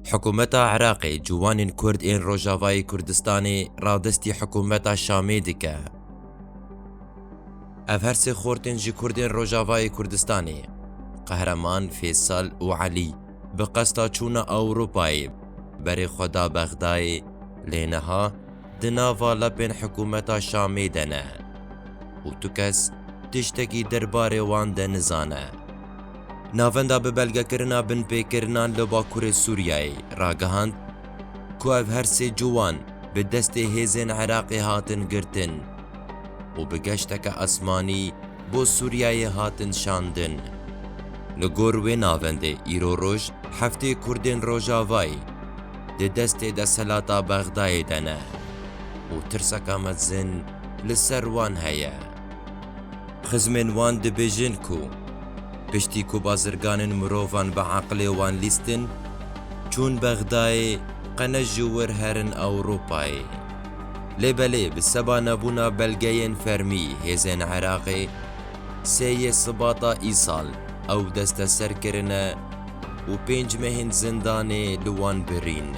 Hikûmeta Iraqê ciwanên Kurd ên Rojavayê Kurdistanê radestî hikûmeta Şamê dike. Ev her sê xortên ji Kurdên Rojavayê Kurdistanê, Qehreman, Fêsal û Elî bi qesta çûna Ewropayê berê xwe da Bexdayê lê niha di nava lepên hikûmeta Şamê de ne û tu kes tiştekî derbarê wan de nizane. Navenda bi belgekirina binpêkirinan li bakurê Sûriyeyê ragihand ku ev her sê ciwan bi destê hêzên Iraqê hatin girtin û bi geşteke esmanî bo Sûriyeyê hatin şandin. Li gor wê navendê îro roj heftê Kurdên Rojavayê di destê desthilata Bexdayê de ne û tirseke mezin li ser wan heye. Xizmên wan dibêjin ku piştî ku bazirganên mirovan bi eqilê wan lîstin, çûn Bexdayê, qene ji wir herin Ewropayê. Lê belê bi seba nebûna belgeyên fermî hêzên Iraqê, sê yê Sibata îsal ew desteser kirine û pênc mehên zindanê li wan birîn.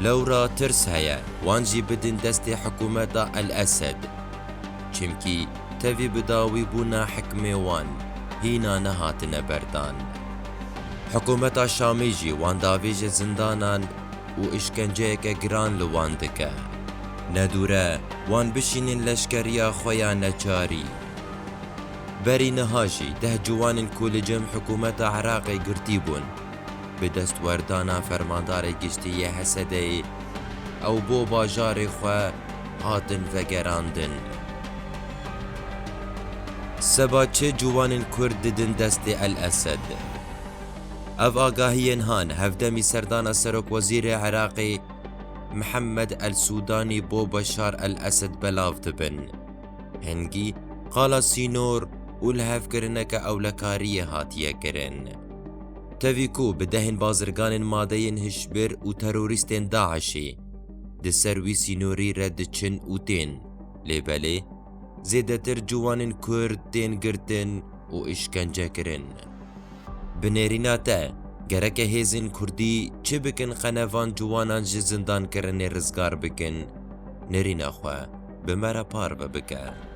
Lewra tirs heye wan jî bidin destê hikûmeta El Esed. Çimkî tevî bi dawî bûna hikmê wan hîna nehatine berdan. Hikûmeta Şamê jî wan davêjê zindanan û îşkenceyeke giran li wan dike. Ne dûr e wan bişînên leşkeriya xwe ya neçarî. Berî niha jî deh ciwanên ku li cem hikûmeta Iraqê girtî bûn, Bi destwerdana Fermandarê Giştî yê Hesedeyê ew bo bajarê xwe hatin vegerandin. Seba çi ciwanên Kurd didin destê El Esed? Ev agahiyên han hevdemî serdana Serokwezîrê Iraqê Mihemed El Sûdanî bo Beşar El Esed belav dibin. Hingî, qala sînor û lihevkirineke ewlekariyê hatiye kirin. Tevî ku bi dehên bazirganên madeyên hişbir û terorîstên DAIŞ'ê di ser wî sînorî re diçin û tên, lê belê zêdetir ciwanên Kurd tên girtin û îşkence kirin. Bi nêrîna te, gereke hêzên Kurdî çi bikin qene van ciwanan ji zindankirinê rizgar bikin nêrîna xwe? Bi me re parve bike.